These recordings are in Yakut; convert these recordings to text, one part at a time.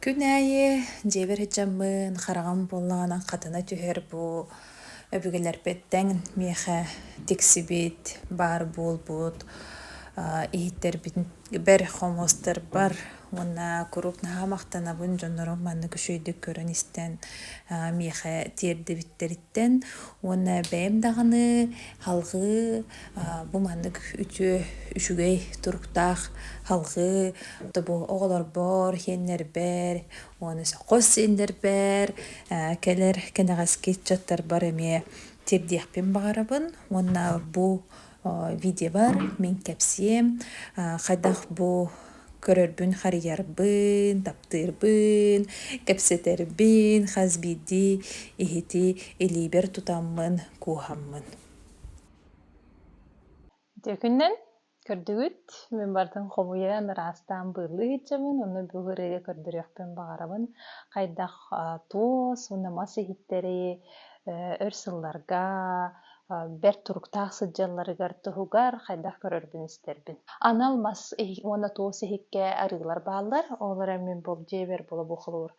Күн аайы дьиэбэр сыдьаммын, хараҕым буоллаҕына хатана түһэр бу өбүгэлэрбиттэн миэхэ тиксибит, баар буолбут иһиттэрбитигэр, хомуостарбар уонна куруук наһаа махтанабын дьоннорум маннык үчүгэйдик көрөн-истэн миэхэ тиэрдибиттэриттэн уонна бэйэм даҕаны салҕыы Бу маннык үтүө, үчүгэй туруктаах алгыы тобу оҕолорбор, иэннэрбэр уонна хос сиэннэрбэр кэлэр кэнэҕэски ыччаттарбар эмиэ тиэрдиэхпин баҕарабын уонна бу видеобар мин кэпсиэм хайдах бу көрөрбүн харыйарбын, таптыырбын, кэпсэтэрбин, хас биирдии иһити илиибэр тутаммын кууһаммын. Дьэкүнэн көрдүгүт, мин барытын хомуйан, ыраастаан быыллыы иһитчэбин, онно бүгүн ырыа көрдөрүөхпүн баҕарабын. Хайдах туос уонна мас иһиттэрэй өр сылларга бэрт туруктаах сылдьалларыгар туһугар хайдах көрөрбүн-истэрбин. Анал мас уонна туос иһиккэ арыылар бааллар, ол эрэн мин бұл дьиэбэр була бу холобур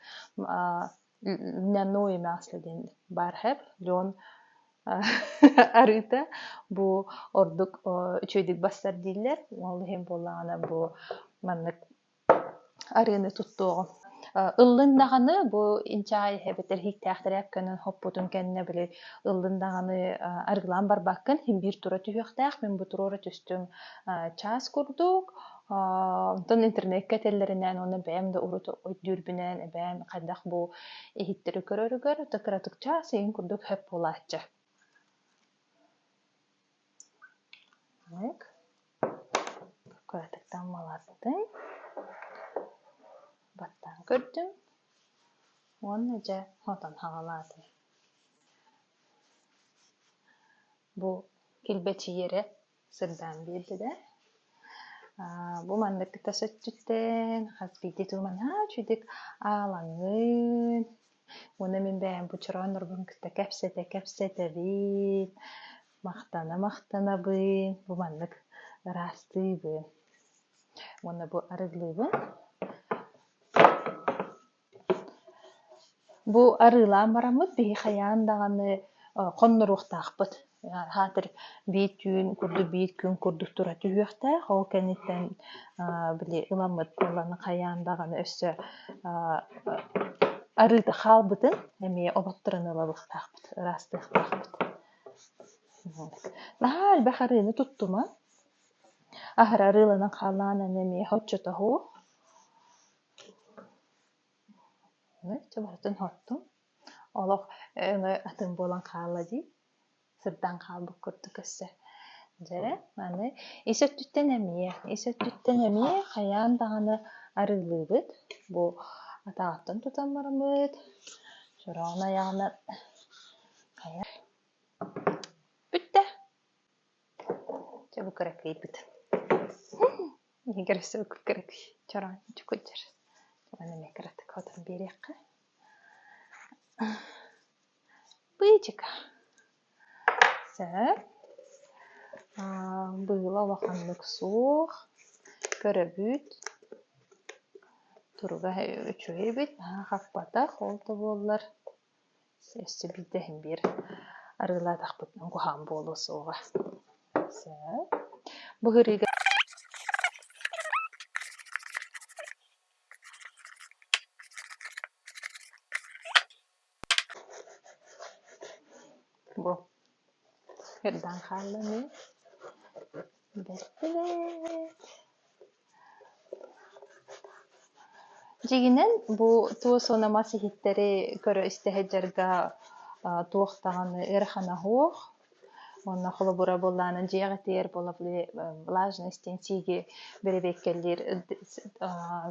Мяное мясо диэн баархар леон арыыта бу ордук үчүгэйдик барсар дииллэр ол иһин буоллаҕына бу маннык арыыны туттуоҕум ыллыын даҕаны бу инчаай эбэтэр иһиктээхтэрэ көнөн хоппутун кэннэ били ыллыын даҕаны арыгылаан барбаккын син биир тура түһүөхтээх мин бу туруора түстүм чаас курдук Онтон интернеккэ этэллэринээн уонна бэйэм да урут өйдүүрбүнэн эбээм хайдах бу иһиттэри көрөрүгэр то кыратык чаас иһин курдук хөп буолааччы. Кыратыктан маластым. Баттан көрдüm. Уонна дьэ отон хагалааты. Бу килбэчийэрэ сырдаан биэрдэ да бу маннык кыта сөччүттэн хас биирдии тылынан үчүдүк аалаҥын уонна мин бэйэм бу чорооннорбун кытта кэпсэтэ кэпсэтэбин махтана махтанабын бу маннык ыраастыыбын уонна бу арыгылыыбын Бу арыылаан бараммыт биһи хайаан даҕаны хонноруохтаахпыт аатыр биир түүн курдук биир күн курдук тура түһүөхтээх ол кэнниттэн били ыламмыт буолланы хайаан даҕаны өссө арыыта хаалбытын эмиэ олотторон ылалыахтаахпыт ыраастыахтаахпыт наһаа элбэх арыыны туттуман аһара арыыланан хааллаҕына эмиэ оччотооҕу Чэ барытын оһоттум. Олох өҥө атын буолан хаалла дии. Сырдаан хаалбыт курдук өссө. Дьэ, аны ис өттүттэн эмиэ, ис өттүттэн эмиэ хайаан даҕаны арыылыыбыт. Бу атаҕыттан тутан бараммыт, чороон айаҕынан хайа бүттэ. Чэ бу кыракыйбыт. Игорь өссө бу кыракый чороончук кутдьар. Уонна эмиэ кыратык отон биэриэххэ. Быычыка. Сөп. Быыла улаханнык суох. Көрөбүт. Туруга үчүгэй эбит. Хаппатах ол да буоллар. Өссө биирдэ иһин биир арыылаатахпыт куһаҕан буолуо суоҕа. Бу ыһыырыыга бу Эрдэҕин хааллым ээ бэркин ээ Дьиҥинэн бу туос уона мас иһиттэри көрө-истэ сылдьарга туох даҕаны ыарахана суох. Уонна холобура буоллаҕына дьиэ эҕэтигэр влажность диэн сииги бэрэбиэркэлиир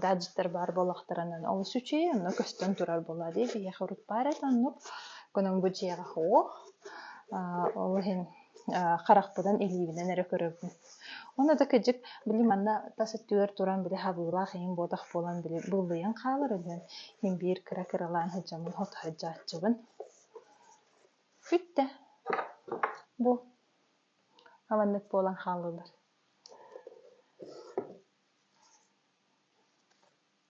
гаджеттар баар буоллахтарына олус үчүгэй, онно көстөн турар буолуо дии. Биһиэхэ урут баар этэ оннук. Кунан бу дьиэҕэ суох. Ол иһин харахпынан, илиибинэн эрэ көрөбүн. Ону да кырдьык, били манна тас өттүгэр туран били хабыылаах иһин буотах буолан били буллуйан хаалар үһү. Мин биир кыра-кыралаан сылдьабын, отоһоттооччубун. Бүттэ. Бу аманнык буолан хааллылар.